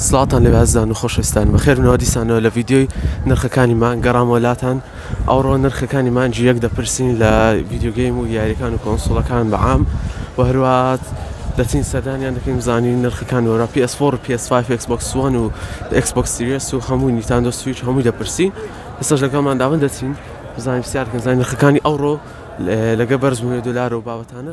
سڵاوتان لەوێ ئەزیزان و خۆشەویستان بەخێربن و دیسانەوە لە ڤیدیۆی نرخەکانی مانگ گەڕامەوە لاتان ئەوڕۆ نرخەکانی مانگی یەک دەپرسین لە ڤیدیۆگەیم و یاریەکان و کۆنسڵەکان بە عام و هەروات دەچین سەردانیان دەکەین زانانی نرخەکان وەرا PS4 PS5 Xbox One و Xbox Series و هەموو نیتاندۆ سویچ هەمووی دەپرسین ئێستاش لەگەڵمان داون دەچین بزانین پرسیارکەن زانین نرخەکانی ئەوڕۆ لەگە بەرزبوونەوەی دۆلار و بابەتانە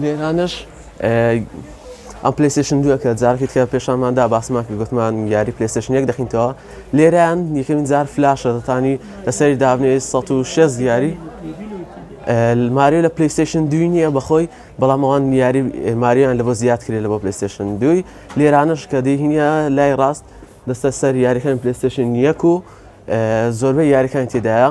لێرانەش ئەم پلیسشن دوەکە جارکی تکە پێشانمان دا باسمان کرد گوتمان یاری پلیسشن یەک دەخینتەوە لێران یەکەمین جار فلاشە دەتانی لەسەری دابنێ 1600 دیاری ماریو لە پلیستشن دوی نییە بەخۆی بەڵام ئەوان یاری ماریان لە بۆ زیاد کرێت لە بۆ پلیستشن دوی لێرانش کە دەهینە لای ڕاست دەستە سەر یاریەکان پلیستشن یەک و زۆربەی یاریەکان تێدایە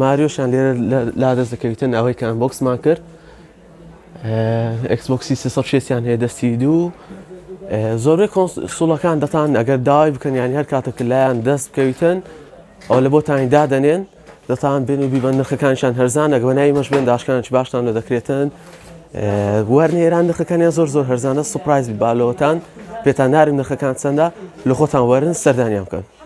ماریۆشیان لێرە لادەست دەکەویتن ئەوەی کە ئەنبۆکسمان کرد ئەکسبۆکسی سێ سەد و شەست یان هەیە دەستی دوو زۆربەی کۆنسوڵەکان دەتان ئەگەر داوای بکەن یان هەر کاتە کە لایەن دەست بکەویتن ئەو لە بۆتانی دادەنێن دەتان بێن و بیبەن نرخەکانشان هەرزانە گەوەنای مەش بێن داشکان چ باشتان لە دەکرێتن وەرنە ئێران نرخەکانیان زۆر زۆر هەرزانە سوپایز بالەوەتان پێتان نارم نرخەکان چەندە لە خۆتان وەرن سەردانیان بکەن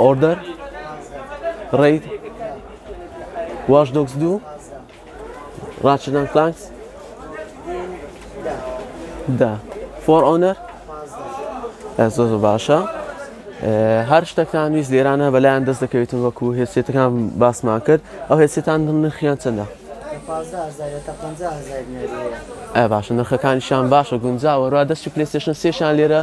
ئۆردەر ڕید واش دۆکس دوو ڕاچدان فلانکس دا فۆر ئۆنەر زۆ زۆ باشە هەر شتەکان ویست لێرانە بەلایەن دەست دەکەوێتن وەکو هێسێتەکان باسمان کرد ئەو هێسێتان نرخیان چەندە ئە باشە نرخەکانیشان باشە گونجاوە ڕا دەستی پلستشن سێشان لێرە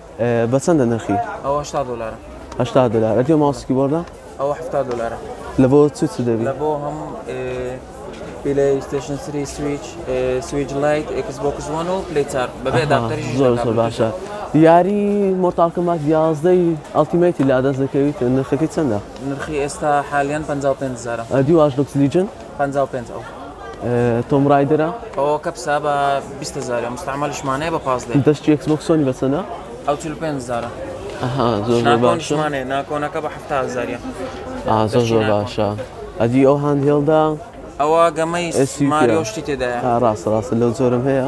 بە چەندە نرخی؟ ئەوە هەشتا دۆلارە. هەشتا دۆلار. ئەتێ ماوسی کیبۆردە؟ ئەوە حەفتا دۆلارە. لە بۆ چ چ دەبی؟ لە بۆ هەم پلەیستێشن سری سویچ سویچ لایت ئێکس بۆکس وان و پلی چار بەبێ داکتەری زۆر زۆر باشە. یاری مۆرتال کۆمبات 11ی ئەڵتیمەیتی لادەست دەکەویت نرخەکەی چەندە؟ نرخی ئێستا حالیان 55 هەزارە. دیواش دوکس لیجن؟ پەنجا و پێنج ئەو تۆم ڕایدرە ئەوە کە پسا بە بیست هەزارە مستعملشمانەیە بە پاس دێ دەست چێکس بۆکسۆنی بەسەنە ئەو چل پێنج هەزارە ئەها زۆر زۆر باشە ناکۆنشمانێ ناکۆنەکە بە هەفتا هەزاریە ئا زۆر زۆر باشە ئەدی ئەو هاند هێڵدا ئەوە گەمەی ئێسی ماریۆ پیرە. شتی تێدایە ئا ڕاستە ڕاستە لەو زۆرم هەیە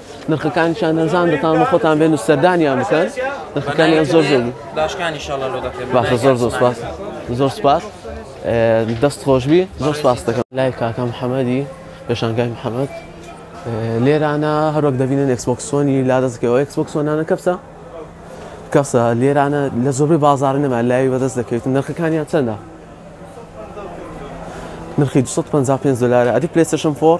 نرخەکانی چیان نەزان دەتان بە خۆتان بێن و سەردانیان بکەن نرخەکانیان زۆر زۆر باشە زۆر زۆر سپاس زۆر سپاس دەست خۆشبی زۆر سپاس دەکەم لای کاکەم حەمەدی پێشانگای محەممەد لێرانە هەروەک دەبینن ئەکسبکسۆنی لا دەستکەوە ئەکسبکسۆنانە کەپسە کەسە لێرانە لە زۆربەی بازار نەما لای بەدەست دەکەوێت نرخەکانیان چەندە نرخی 255 دلار ئەدی پلێسشم فۆر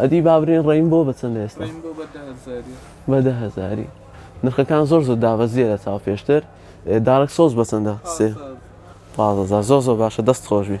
ئەدی بابرێن ڕێین بۆ بەچەند ئێستا بە دە هەزاری نرخەکان زۆر زۆر دابەزیە لە چاو پێشتر دارک سۆز بەچەندە سێ پازە زۆر زۆر باشە دەست خۆشبی